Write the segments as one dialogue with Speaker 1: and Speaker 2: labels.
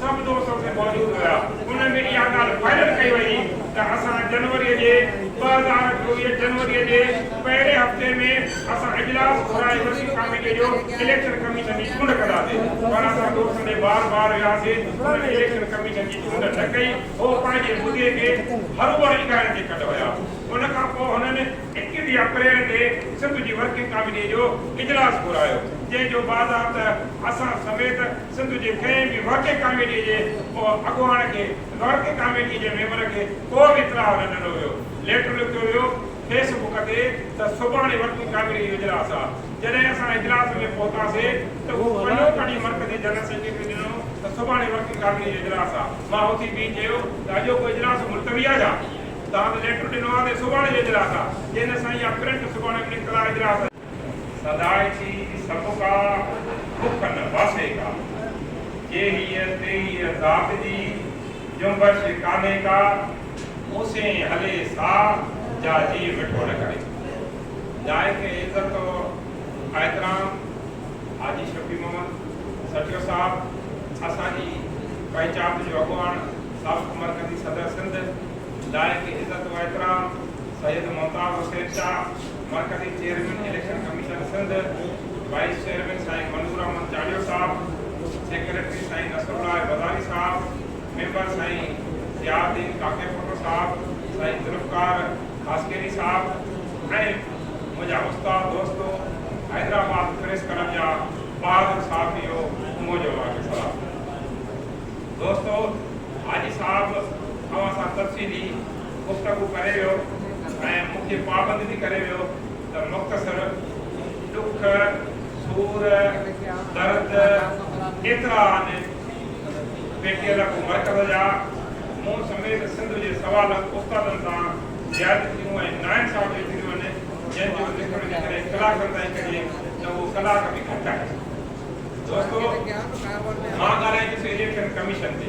Speaker 1: سڀ دوست اتي موجود هيا، انهن ۾ اها ڳالهه فائنل ڪئي وئي ته اسان جنوري جي ٻه هزار چوويهه جنوري جي پهرين هفتي ۾ اسان اجلاس گهرائي وڏي ڪاميٽي جو اليڪشن ڪميشن جي چونڊ ڪنداسين پر اسان دوستن ڏي بار بار وياسين انهن اليڪشن ڪميشن جي چونڊ نه ڪئي هو پنهنجي مدي کي هروڀرو اگهائڻ تي ڪڍ هيا ان کان پوء هنن اڪيٽيهه اپريل تي سنڌ جي ورڪنگ ڪاميٽي جو اجلاس گهرايو جنهن جو باضابطه اسان سميت سنڌ جي ڪنهن به ورڪنگ ڪاميٽي جي ڪو اڳواڻ کي ورڪنگ ڪاميٽي جي ميمبر کي ڪو به اطلاع نه ڏنو ويو. ليٽر لکيو ويو فيس بڪ تي ته سڀاڻي ورڪنگ ڪاميٽي جو اجلاس آ. جڏهن اسان اجلاس ۾ پهتاسي ته هو پنو ڪڍي مرڪزي جنرل سيڪريٽري کي ڏنو ته سڀاڻي ورڪنگ ڪاميٽي جو اجلاس آ. مان اٿي بيهي چيو ته اڄوڪو اجلاس ملتوي آ ڇا؟ توهان ته ليٽر ڏنو آ ته سڀاڻي جو اجلاس آ. چيائين نه سائين اها پرنٽ سڀاڻي پڻ اطلاع اجلاس سدائي ٿي سڀ ڪا، بک نه باسي ڪا. جي هيء تيهيء ذات جي، جنبش ڪانهي ڪا. موسين هلي سا، جا جيء مٺو نه ڪري. لائق عزت و احترام حاجي شفيع محمد سٺيو صاحب اسان جي پنچات جو اڳواڻ سابق مرڪزي صدر سنڌ لائق عزت و احترام سيد ممتاز حسين شاهه، مرڪزي chairman election commission Sindh, vice chairman سائين منظور احمد چاڙهيو صاحب، سيڪريٽري سائين نصر الله وزاري صاحب، ميمبر سائين ضياء الدين ڪاڪيپوٽو صاحب، سائين ذوالفقار خاصخيلي صاحب ۽ منهنجا استاد دوستو حيدرآباد پريس ڪلب جا بهادر صحافيو منهنجو اوهانکي سلام دوستو حاجي صاحب اوهان سان تفصيلي گفتگو ڪري ويو ۽ مون کي پابند به ڪري ويو ته مختصر ڏک، سور، درد ڪيترا آهن؟ پي ٽي ايل اڳو مرڪز جا مون سميت سنڌ جي سوا لک استادن سان زيادتيون ۽ ناانصافيون ٿينديون آهن جنهن جو ذڪر جيڪڏهن ڪلاڪن تائين ڪجي ته اهو ڪلاڪ به گهٽ آهي. دوستو مان ڳالهائيندس اليڪشن ڪميشن تي.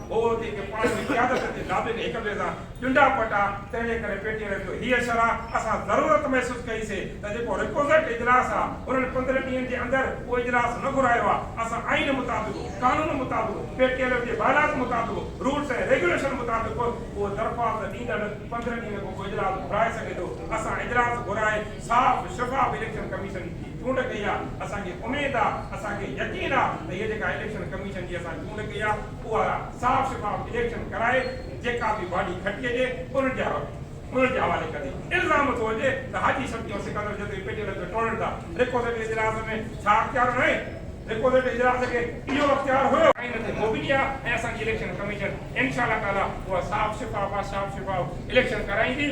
Speaker 1: هو هتي ڪي پاڻ جي قيادت جي دادين هڪ ٻئي سان ڏنڊا پٽا تنهنجي ڪري پيٽي رهي ٿو هيء شرح اسان ضرورت محسوس ڪئي سي ته جيڪو ريڪوزٽ اجلاس آ انهن پندرهن ڏينهن جي اندر اهو اجلاس نه گهرايو آ اسان آئين مطابق قانون مطابق پي ٽي ايل جي بالاز مطابق رولس ۽ ريگوليشن مطابق به اهو درخواست ڏيندڙ پندرهن ڏينهن کان پوء اجلاس گهرائي سگهي ٿو اسان اجلاس گهرائي صاف شفاف اليڪشن ڪميشن جي چونڊ ڪئي آ اسان کي اميد آ اسان کي يقين آ ته هيء جيڪا اليڪشن ڪميشن جي اسان ان کي يا اها صاف شفاف اليڪشن ڪرائي جيڪا به باڊي کٽي اچي انهن جي انهن جي حوالي ڪندي. الزام ٿو هجي ته حاجي شفيع ۽ سڪندر جتوئي پيٽي الڳ کي ٽوڙين ٿا. ريڪوسيٽ اجلاس ۾ ڇا اختيار نه هي؟ ريڪوسيٽ اجلاس کي اهو اختيار هيو. ۽ نه ٿي موبيلي آ ۽ اسان جي اليڪشن ڪميشن انشاء الله تعالي اها صاف شفاف آ صاف شفاف اليڪشن ڪرائيندي.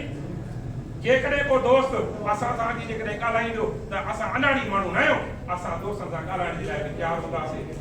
Speaker 1: جيڪڏهن ڪو دوست اسان سان اچي جيڪڏهن ڳالهائيندو ته اسان الاڙي ماڻهو ناهيون اسان دوستن سان ڳالهائڻ جي لاء به تيار هونداسين.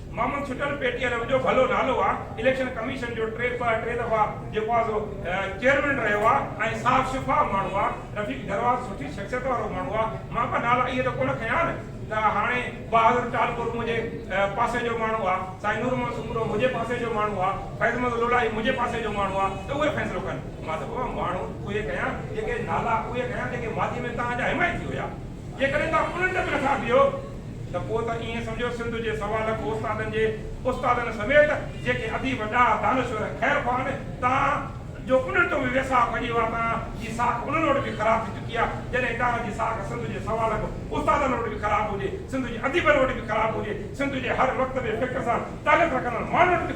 Speaker 1: معمول ڇٽل پي ٽي آء جو وڏو ڀلو نالو آ، اليڪشن ڪميشن جو ٽي پ ٽي دفعا جيڪو آ سو چيئرمين رهيو آ ۽ صاف شفاف ماڻهو آ، رفيق درواز سٺي شخصيت وارو ماڻهو آ، مان ڪا نالا اهي ته ڪونه کنيا آهن ته هاڻي بهادر ٽالپور منهنجي پاسي جو ماڻهو آ، سائين نور محمد سومرو منهنجي پاسي جو ماڻهو آ، فيض محمد لولاڻي منهنجي پاسي جو ماڻهو آ ته اهي فيصلو ڪن، مان ته بابا ماڻهو اهي کنيا جيڪي نالا اهي کنيا جيڪي ماضي ۾ توهان جا حمايتي هيا. جيڪڏهن توهان الٽ به نٿا ٿيو ته پوء ته ائين سمجهو سنڌ جي سوا لک استادن جي استادن سميت جيڪي اديب ڏاها دانشور خير خواه آهن توهان جو انهن تون به ويساهه کڄي ويو آهي توهان جي ساک انهن وٽ به خراب ٿي چڪي آهي جڏهن توهان جي ساک سنڌ جي سوا لک استادن وٽ به خراب هجي سنڌ جي اديبن وٽ به خراب هجي سنڌ جي هر مڪتب فڪر سان تعلق رکندڙ ماڻهن وٽ به